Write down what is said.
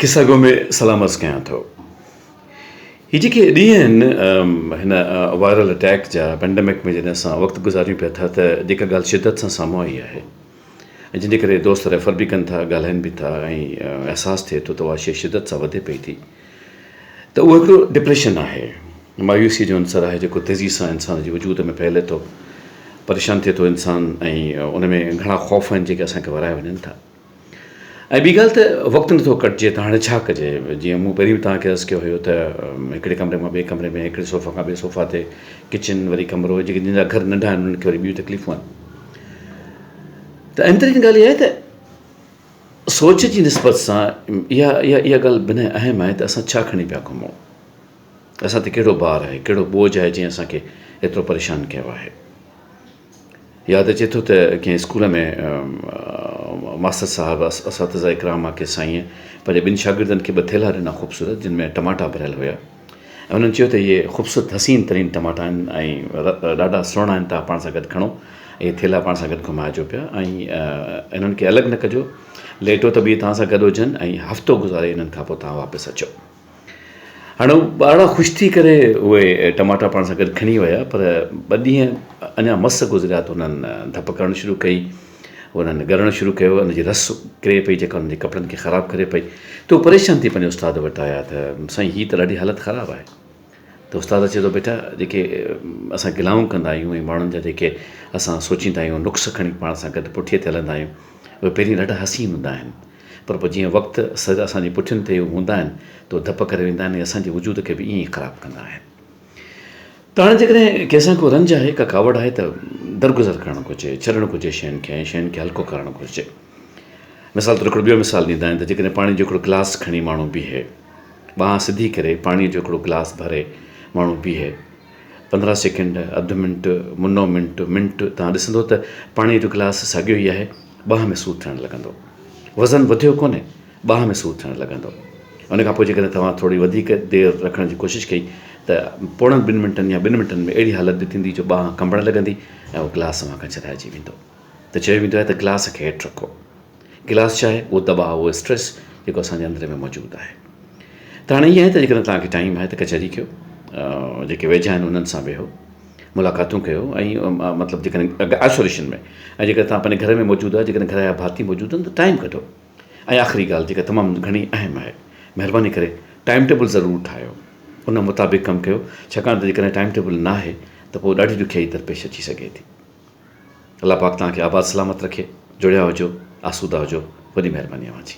قصه گو ۾ سلام عرض ڪيان ٿو. هي جيڪي ڏينهن آهن هن وائرل اٽيڪ جا پينڊمڪ ۾ جڏهن اسان وقت گذاريون پيا ٿا ته جيڪا ڳالهه شدت سان سامهون آئي آهي ۽ جنهن جي ڪري دوست ريفر به ڪن ٿا ڳالهائين به ٿا ۽ احساس ٿئي ٿو ته اها شيء شدت سان وڌي پئي ٿي ته اهو هڪڙو ڊپريشن آهي مايوسي جو عنصر آهي جيڪو تيزي سان انسان جي وجود ۾ ڦهلي ٿو پريشان ٿئي ٿو انسان ۽ ان ۾ گهڻا خوف آهن جيڪي اسان کي ورائي وڃن ٿا. ۽ ٻي ڳالهه ته وقت نٿو ڪٽجي ته هاڻي ڇا ڪجي جيئن مون پهرين به توهان کي عرض ڪيو هيو ته هڪڙي ڪمري مان ٻئي ڪمري ۾ هڪڙي صوفا کان ٻئي صوفا تي ڪچن وري ڪمرو جيڪي جن جا گهر ننڍا آهن انهن کي وري ٻيون تڪليفون آهن ته اهم ترين ڳالهه اها آهي ته سوچ جي نسبت سان اها اها اها ڳالهه بنهه اهم آهي ته اسان ڇا کڻي پيا گهمون اسان تي ڪهڙو بار آهي ڪهڙو ٻوجهه آهي جنهن اسان کي ايترو پريشان ڪيو آهي ياد اچي ٿو ته ڪنهن اسڪول ۾ ماستر صاحب اساتذه اڪرام مان ڪنهن سائينء پنهنجي ٻن شاگردن کي ٻه ٿيلها ڏنا خوبصورت جن ۾ ٽماٽا ڀريل هيا ۽ انهن چيو ته اهي خوبصورت حسين ترين ٽماٽا آهن ۽ ڏاڍا سهڻا آهن توهان پاڻ سان گڏ کڻو اهي ٿيلها پاڻ سان گڏ گهمائجو پيا ۽ انهن کي الڳ نه ڪجو ليٽو ته به اهي توهان سان گڏ هجن ۽ هفتو گذاري انهن کان پوء توهان واپس اچو هاڻي ٻارڙا خوش ٿي ڪري اهي ٽماٽا پاڻ سان گڏ کڻي ويا پر ٻه ڏينهن اڃا مس گذريا ته انهن ڌپ ڪرڻ شروع ڪئي انهن ڳرڻ شروع ڪيو ان جي رس ڪري پئي جيڪا انهن جي ڪپڙن کي خراب ڪري پئي ته هو پريشان ٿي پنهنجي استاد وٽ آيا ته سائين هي ته ڏاڍي حالت خراب آهي ته استاد چئي ٿو بيٽا جيڪي اسان گلائون ڪندا آهيون ۽ ماڻهن جا جيڪي اسان سوچيندا آهيون نقص کڻي پاڻ سان گڏ پٺيء تي هلندا آهيون اهي پهرين ڏاڍا حسين هوندا آهن پر پوء جيئن وقت سر اسان جي پٺين تي هوندا آهن ته اهي ڌپ ڪري ويندا آهن ۽ اسان جي وجود کي به ائين ئي خراب ڪندا آهن ته هاڻي جيڪڏهن ڪنهن سان ڪو رنج آهي ڪا ڪاوڙ آهي ته درگذر ڪرڻ گهرجي ڇڏڻ گهرجي شين کي ۽ شين کي هلڪو ڪرڻ گهرجي مثال طور هڪڙو ٻيو مثال ڏيندا آهن ته جيڪڏهن پاڻي جو هڪڙو گلاس کڻي ماڻهو بيهي ٻانهن سڌي ڪري پاڻي جو هڪڙو گلاس ڀري ماڻهو بيهي پندرهن سيڪنڊ اڌ منٽ منو منٽ منٽ تان ڏسندو ته پاڻي جو گلاس ساڳيو ئي آهي ٻانهن ۾ سور ٿيڻ لڳندو وزن وڌيو ڪونهي ٻانهن ۾ سور ٿيڻ لڳندو ان کان پوء جيڪڏهن توهان ٿوري وڌيڪ دير رکڻ جي ڪوشش ڪئي ته پوڻن ٻن منٽن يا ٻن منٽن ۾ اهڙي حالت به ٿيندي جو ٻانهن ڪنبڻ لڳندي ۽ اهو گلاس اوهان کان ڇڏائجي ويندو ته چيو ويندو آهي ته گلاس کي هيٺ رکو. گلاس ڇا آهي؟ اهو دٻاء، اهو اسٽريس جيڪو اسان جي اندر ۾ موجود آهي. ته هاڻي ائين آهي ته جيڪڏهن توهان کي ٽائيم آهي ته ڪچهري ڪيو، جيڪي ويجها آهن انهن سان ويهو، ملاقاتون ڪيو ۽ مطلب جيڪڏهن آئسوليشن ۾ ۽ جيڪڏهن توهان پنهنجي گهر ۾ موجود آهيو، جيڪڏهن گهر جا ڀاتي موجود آهن ته ٽائيم ڪڍو ۽ آخري ڳالهه جيڪا تمام گهڻي اهم آهي، مهرباني ڪري ٽائيم ٽيبل ضرور ٺاهيو، ان مطابق ڪم ڪيو، ڇاڪاڻ ته جيڪڏهن ٽائيم ٽيبل ناهي ته پوء ڏاڍي ڏکيائي درپيش اچي سگهي ٿي. الله پاڪ توهان کي آباد سلامت رکي جڙيا هجو آسودا هجو وڏي مهرباني اوهان جي.